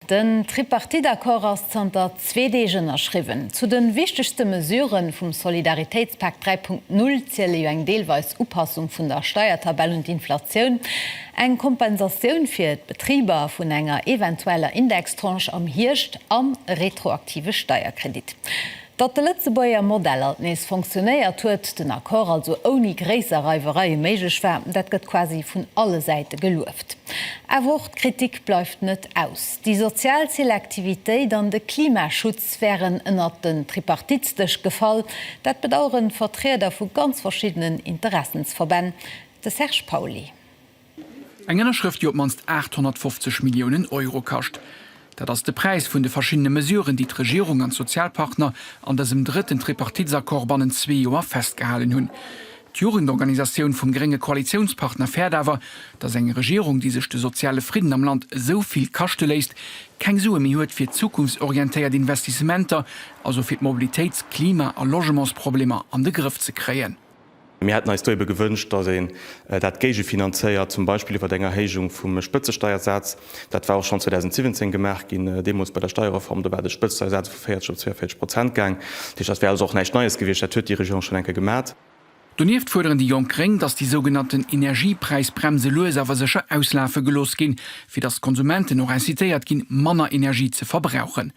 Den Tripartite-Accord ass zanter zwee Deeg ënnerschriwwen. Zu de wichtegste Mesurë vum Solidaritéitspak 3.0 ziele jo eng deelweis Upassung vun der Steiertabell un d'Inflatioun, eng Kompensatioun fir d'Betriber vun enger eventueller Indextranche am Hierscht an e retroaktive Steierkredit. Datt de Lëtzebuerger Modell alt nees fonctionnéiert huet, den Accord also ouni gréisser Reiwereie méiglech war, dat gëtt quasi vun alle Säite gelueft. Awer och d'Kritik bleift net aus. Déi sozial Selektivitéit an de Klimaschutz wären ënnert den Tripartitsdësch gefall. Dat bedaueren Vertrieder vu ganz verschiddenen Interessensverbänn. De Serge Pauly. Eng Ënnerschrëft, déi op d'mannst 850 Milliounen Euro kascht. Dat ass de Präis vun de verschiddene Mesuren, déi d'Regierung an d'Sozialpartner an dësem drëtten Tripartitsaccord bannent zwee Joer festgehalen hunn. D'Jugendorganisatioun vum grénge Koalitiounspartner fäert awer, datt eng Regierung, déi sech de soziale Fridden am Land esou vill kaschte léisst, keng Sue méi huet fir zukunftsorientéiert Investissementer, also fir d'Mobilitéits-, Klima a Logementsproblemer an de Grëff ze kréien. Mir hätten eis do ebe gewënscht, datt een dat géigefinanzéiert, zum Beispill iwwert eng Erhéijung vum Spëtzesteiersaz. Dat war och schonn 2017 gemaach ginn, deemools bei der Steierreform. Do war de Spëtzesteiersaz vu 40 op 42 Prozent gaang. Dat heescht, dat wär also och näischt Neies gewiescht, dat huet déi Regierung schonn eng Kéier gemat. Donieft fuerderen déi jonk gréng, datt déi sougenannten Energiepräisbremse lues awer sécher auslafe gelooss ginn, fir datt d'Konsumenten och incitéiert ginn, manner Energie ze verbrauchen.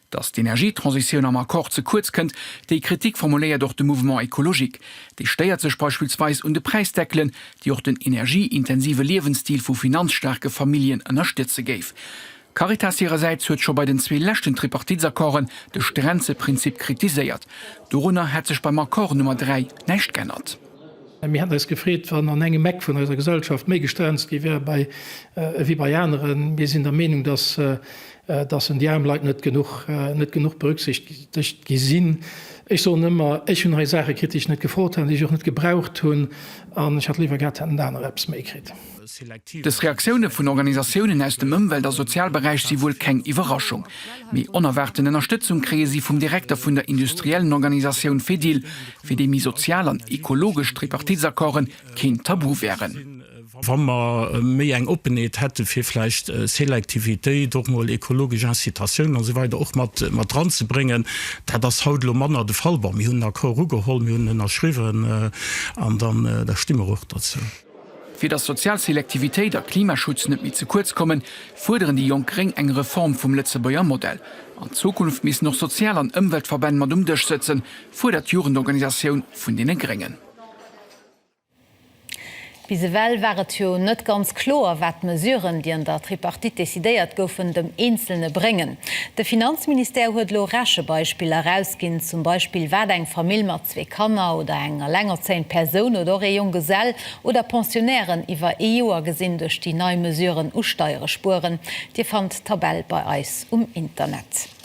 Datt d'Energietransitioun am Accord ze kuerz kënnt, déi Kritik formuléiert och de Mouvement écologique. Dee stéiert sech beispillsweis un de Präisdeckelen, déi och den energieintensive Liewensstil vu finanzstaarke Familljen ënnerstëtze géif. D'Caritas hirersäits huet scho bei den zwee leschten Tripartitsaccorden de Stränzeprinzip kritiséiert. Dorunner hätt sech beim Accord Nummer 3 näischt g'ännert. Mir hätten eis gefreet, wann an engem Eck vun eiser Gesellschaft méi gestrenzt gi wär ewéi bei aneren. Mir sinn der Meenung, dass en déi aarm Leit net genuch berücksichtegt gi sinn. Ech soen ëmmer, ech hunn hei Saache kritt, déi ech net gefrot hat, déi ech och net gebraucht hunn an ech hätt léiwer gehat, hätten anerer eppes méi kritt. Dës Reaktioune vun Organisatiounen aus dem Ëmwelt a Sozialberäich si wuel keng Iwwerraschung. Mee onerwaarten Ënnerstëtzung kréie si vum Direkter vun der industriellen Organisatioun Fedil, fir déi méi sozial an ekologesch Tripartitsaccorden keen Tabu wären. Wa mer méi eng Oppenheet hätte fir vläicht Selektivitéit, och mol ekologesch Incitatiounen a sou weider och mat ranzebréngen. Dat ass haut elo manner de Fall. Bon, mir hunn den Accord ugeholl, mir hunn en ënnerschriwwen an dann da sti mer och derzou. Fir datt sozial Selektivitéit a Klimaschutz net méi ze kuerz kommen, fuerderen déi jonk gréng eng Reform vum Lëtzebuerger Modell. An Zukunft missten och Sozial an Ëmweltverbänn mat um Dësch sëtzen, fuerdert d'Jugendorganisatioun vun deene Gréngen. Bis ewell war et jo net ganz kloer, wat d'Mesuren, déi an der Tripartite decidéiert goufen, dem Eenzelne bréngen. De Finanzministère huet elo Rechebeispiller erausginn, zum Beispill wat eng Famill mat. zwee Kanner oder eng elengerzéiend Persoun oder och ee Jonggesell oder Pensionnairen iwwer ee Joer gesinn duerch déi nei Mesuren u Steiere spueren. Dir fannt d'Tabell bei eis um Internet.